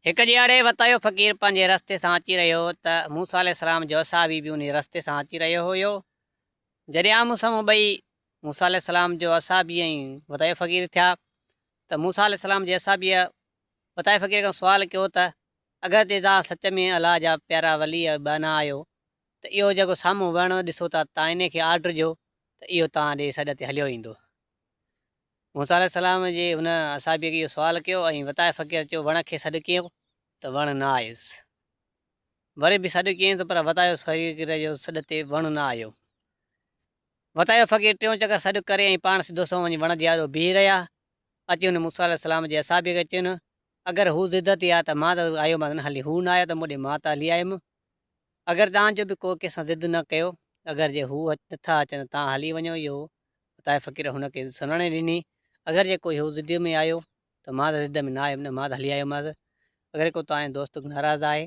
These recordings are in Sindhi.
هڪ ڏيهاڙي وتايو اهو فقير پنهنجي رستي سان اچي رهيو هو ته موسيٰ عليه السلام جو اصحابي به انهيء رستي سان اچي رهيو هيو. جڏهن آمهون سامهون ٻئي، موسيٰ عليه السلام جو اصحابي ۽ وتايو فقير، ٿيا ته موسيٰ عليه السلام جي اصحابيء وتايو فقير کان سوال ڪيو ته اگرچه توهان سچ ۾ الله جا پيارا ولي ۽ ٻانها آهيو ته اهو جيڪو سامهون وهڻو ڏسو ٿا توهان انهيء کي آرڊر ڏيو ته اهو توهان ڏي سڏ تي هليو ايندو. موسيٰ عليه السلام جي هن اصحابيء کي اهو سوال ڪيو ۽ وتايي فقير چيو، وڻ کي سڏ ڪيئين ته وڻ نه آيس. وري به سڏ ڪيئين ته پر وتايو فقير جو سڏ تي وڻ نه آيو. وتايو فقير ٽيون چڪر سڏ ڪري ۽ پاڻ سڌو سنئون وڃي وڻ جي آڏو بيهي رهيا. اچي هن موسيٰ عليه السلام جي اصحابيء کي چين، اگر هو ضد تي آ ته مان ته آيومانس نه هلي، هو نه آيو ته مون ڏي مان ته هلي آيم. اگر توهان جو به ڪو ڪنهن سان ضد نه ڪيو، اگر جي هو نه ٿا اچن ته توهان هلي وڃو، اهو عطاء فقير هن کي سنهڙاڻي ڏني، اگر جي ڪو هيء ضديء ۾ آيو ته مان ته ضد ۾ نه آيم نه، مان ته هلي آيومانس. اگر ڪو توهان جو دوست ناراض آهي،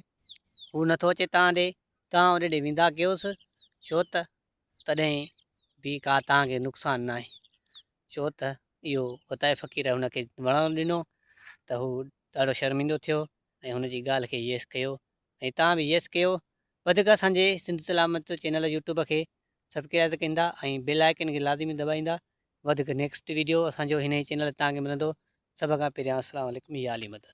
هو نه ٿو اچي توهان ڏي، توهان ان ڏي ويندا ڪيوس، ڇو ته تڏهن به ڪا توهان کي نقصان ناهي. ڇو ته اهو عطاء فقير هن کي وڻڻ ڏنو ته هو ڏاڍو شرمندو ٿيو ۽ هن جي ڳالهه کي يس ڪيو ۽ توهان به يس ڪيو. وڌيڪ اسان جي سنڌ سلامت چينل يوٽيوب کي سبڪرائز ڪندا ۽ بيل آئيڪن کي لازمي دٻائيندا وڌيڪ نيڪسٽ ويڊيو اسان جو هن ئي چينل تان کي ملندو سڀ کان پهريان اسلام عليڪم يا علي مدد.